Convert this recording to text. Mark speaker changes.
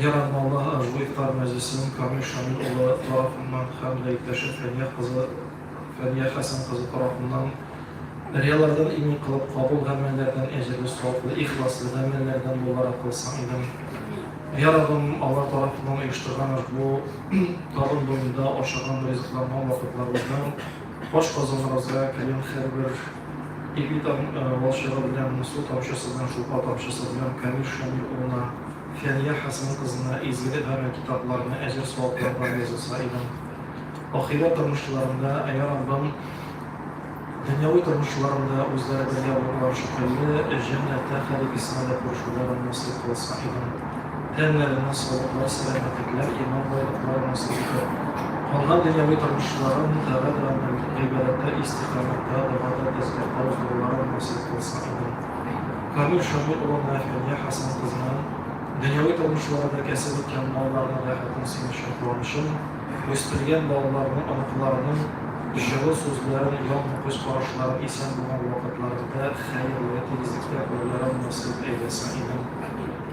Speaker 1: Ярдәмалдагы Ыржбу ифтар мәҗлесен Камил Шамил улы тарафыннан һәм дә иптәше Фәния кызы Фәния Хәсән кызы тарафыннан рияләрдән имин кылып кабул гамәлләрдән әҗерле саваплы ихласлы гамәлләрдән буларак кылсаң идем Я Раббым алар тарафыннан оештырган Ыржбу табын буенда ашаган ризыкланган вакытларыбыздан ашказаныбызга кергән һәрбер Егетам валчыгы белән Муслу тамчысына, Шулпа тамчысы белән Камил Шамил улына, Фәния Хәсән кызына изге гарәй китапларны әҗер-саваплардан язылса идем. Ахирәт тормышларында Йа Раббым, дөньяви тормышларында үзләре бергә булулар шикелле, җәннәттә Халик Исмәлгә күрешүләрен насыйп кылса идем. Тәннәренә савыклар, сәламәтлекләр, иман байлыклары насыйп итеп, калган дөньяви тормышларын тәгә белән гел гыйбадәттә истикамәттә, догада, тәсбихта уздыруларын насыйп кылсын, амин. Камил Шамил улына, Фәния Хәсән кызына, дөньяви тормышларыда кәсеп иткән малларының рәхәтен, сөенечен, куанычын, үстергән балаларының, оныкларының җылы сүзләрен, яңгы күз карашларын, исән булган вакытларында, хәерле, тигезлектә күрүләрен насыйп әйләсен, имин.